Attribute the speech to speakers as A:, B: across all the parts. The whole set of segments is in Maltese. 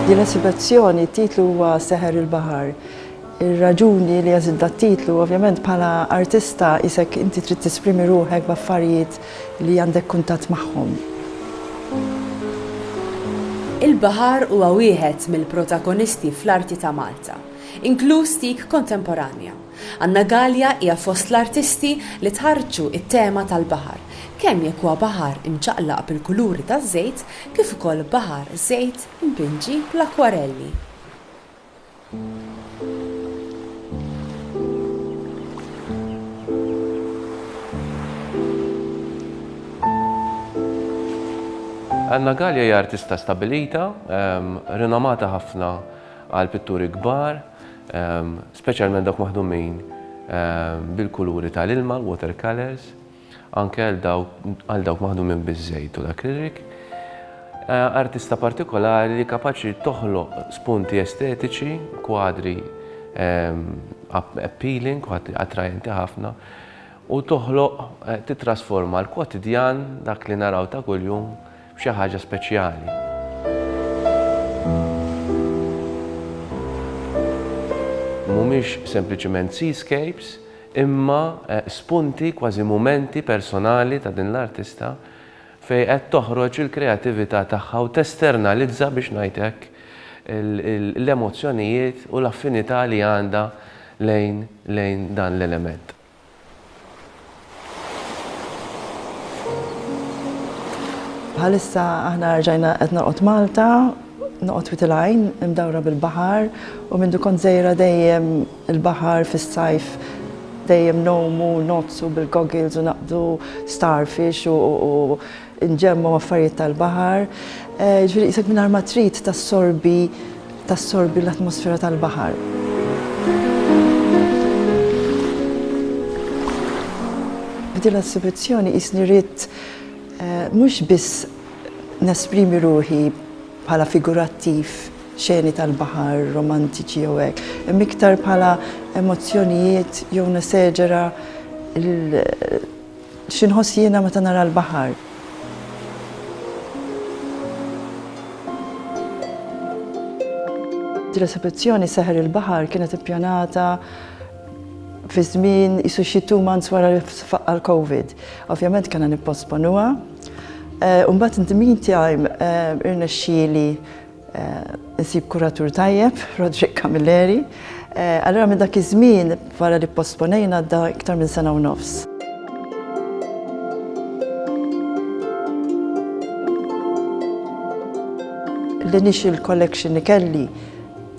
A: Din l-esibezzjoni, t-titlu huwa Seħer il-Baħar. Ir-raġuni li għażilt dat-titlu, ovvjament bħala artista qisek inti trid tesprimi ruħek b'affarijiet li għandek kuntatt magħhom.
B: Il-baħar huwa wieħed mill-protagonisti fl-arti ta' Malta. inkluż dik kontemporanja. Anna Galea hija fost l-artisti li tħarrġu t-tema tal-baħar, kemm jekk huwa baħar imċaqlaq bil-kuluri taż-żejt kif ukoll baħar żejt impinġi bl-akkwarelli.
C: Anna Galea hija artista stabbilita, rinomata ħafna, għal pitturi kbar, speċjalment dawk maħdumin bil-kuluri tal-ilma, l-water colours, anke għal dawk maħdumin biż-żejt u l-akrilik. Artista partikolari li kapaċi toħloq spunti estetiċi, kwadri appealing, kwadri attrajenti ħafna, u toħloq titrasforma l-kwotidjan dak li naraw ta' kuljum b'xi ħaġa speċjali. Mhumiex sempliċiment seascapes, imma spunti, kważi mumenti personali ta' din l-artista fejn qed toħroġ il-kreatività tagħha u testernalizza, biex ngħid hekk, l-emozzjonijiet u l-affinità li għandha lejn dan l-element.
A: Bħalissa aħna rġajna qed noqgħod Malta, noqgħod Witilajn, imdawra bil-baħar u mindu kont żejra dejjem il-baħar fis-sajf dejjem nomu, nozzu bil-goggles u naqdu starfish u inġemmgħu affarijiet tal-baħar, jiġifieri qisek mingħajr ma trid tassorbi tassorbi l-atmosfera tal-baħar. F'din l-esibizzjoni qisni ridt mhux biss nesprimi ruħi bħala figurattiv xeni tal-baħar, romantiċi jew hekk, imma iktar bħala emozzjonijiet jew neseġera l- Xi nħoss jiena meta nara l-baħar? Din l-esebizzjoni Seħer il-Baħar kienet ippjanata fi żmien qisu xi two months wara li faqqa' l-Covid. Ovvjament kellna nipposponuha. U mbagħad in the meantime irnexxieli Insib kuratur tajjeb, Roderick Camilleri. Allura minn dak iż-żmien wara li pposponejna għadda iktar minn sena u nofs. L-initial collection li kelli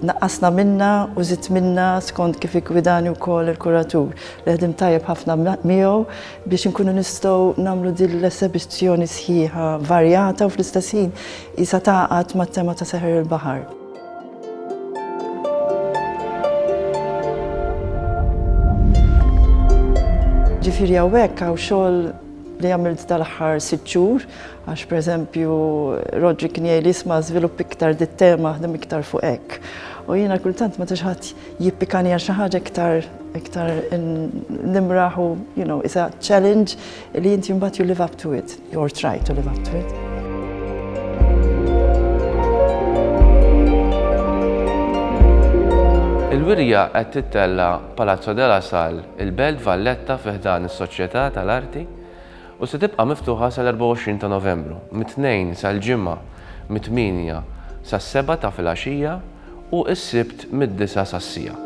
A: naqqasna minnha u żidt minnha skont kif iggwidani wkoll il-kuratur li ħdimt tajjeb ħafna miegħu biex inkunu nistgħu nagħmlu din l-esebizzjoni sħiħa varjata u fl-istess ħin isa taqgħad mat-tema ta' seħer il-baħar. Ġifieri hawnhekk hawn xogħol li għamilt dal-aħħar sitt xhur, għax pereżempju Rodri kien jgħid isma' żvilupp iktar dit-tema ħdem iktar fuq hekk. U jiena kultant meta xi ħadd jippikani għal xi ħaġa iktar iktar nimraħ u you know, is a challenge li inti mbagħad you live up to it or try to live up to it.
C: Il-wirja qed tittella Palazzo della Sal, il-Belt Valletta fiħdan is-Soċjetà tal-Arti u se tibqa' miftuħa sal-24 ta' Novembru, mit-tnejn sal-ġimgħa, mit-8 sas-7 ta' filgħaxija u s-Sibt mid-disgħa sas-siegħa.